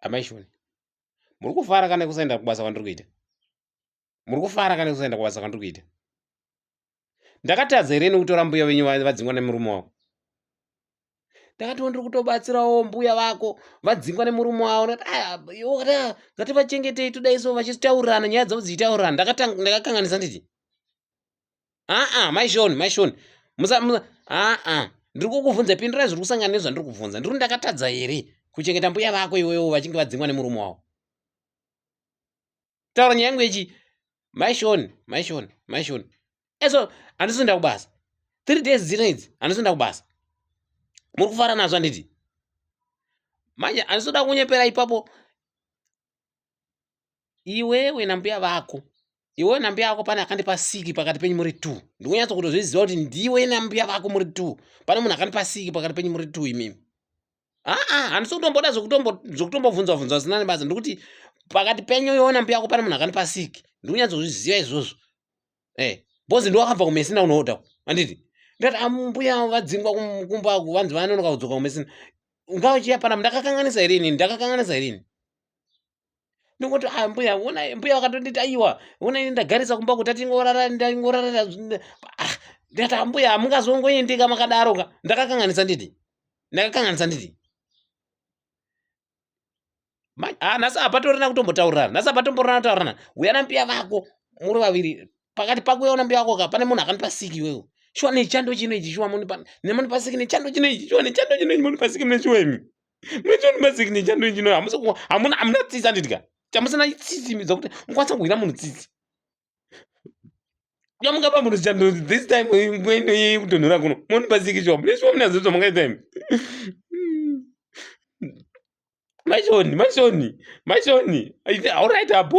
amai shoni muri kufara kana kusaenda kubasa kwandiri kuita muri kufara kana kusaenda kubasa kwandiri kuita ndakatadza here nekutora mbuya venyu vadzingwa nemurume wavo ndakatiwo ndiri kutobatsirawo mbuya vako vadzingwa nemurume wavo ngativachengetei todaiso vachitaurirana nyaya dzavo dzichitaurirana ndakakanganisa nditi aa maishoni maishoni musa musa aa ndiri kukubvunza pindirai zviri kusangana nezvandiri kubvunza ndiri ndakatadza here kuchengeta mbuya vako iwewo vachinge vadzingwa nemurume wavo taura nyaya yangu yechi maishoni maishoni maishoni eso handisonda kubasa three days dzino idzi handisonda kubasa muri kufara nazvo handiti manje handisoda kunyepera ipapo iwewe nambuya vako iwewe nambuya vako pane akandipa siki pakati penyu muri two ndikunyatso kutozviziva kuti ndiwe nambuya vako muri two pane munhu akandipa siki pakati penyu muri two imimi aa handisi kutomboda zvekutombobvunzwa bvunzwa zina nebasa ndikuti pakati penyu iwewe nambuya vako pane munhu akandipa siki ndikunyatso kuzviziva izvozvo eh bozi ndiwo akabva kumesina unoda anditi ndati ambuya ah, vadzingwa kumba ku vanzi vanonoka kudzoka kumesina ungava chiya pana ndakakanganisa here inini ndakakanganisa here ini ndingoti a ah, mbuya ona mbuya vakatonditi aiwa ona ini ndagarisa kumba kuti atingorara ndingorara ah, ndati ambuya hamungazongoendeka makadaro ka ndakakanganisa nditi ndakakanganisa nditi ah, nhasi hapatorina kutombotaurirana nhasi hapatomborana kutaurirana uya nambiya vako muri vaviri pakati pako uya unambiya vako ka pane munhu akanipa siki iwewo shuwa nechando chino ichi shuwa munipa siki nechando chino ichi shuwa nechando chino ichi munipa siki mune shuwa imi munotionipa siki nechando chino hamuna tsitsi andidya chamusina tsitsi midza kuti mukwanisa kuhwira munhu tsitsi Yamuka pa muruzi chando this time ngwendo ye kutonhora kuno. Moni pasiki chwa. Bless wa mnazo to makaita imi. Mashoni, mashoni, mashoni. All right, abu.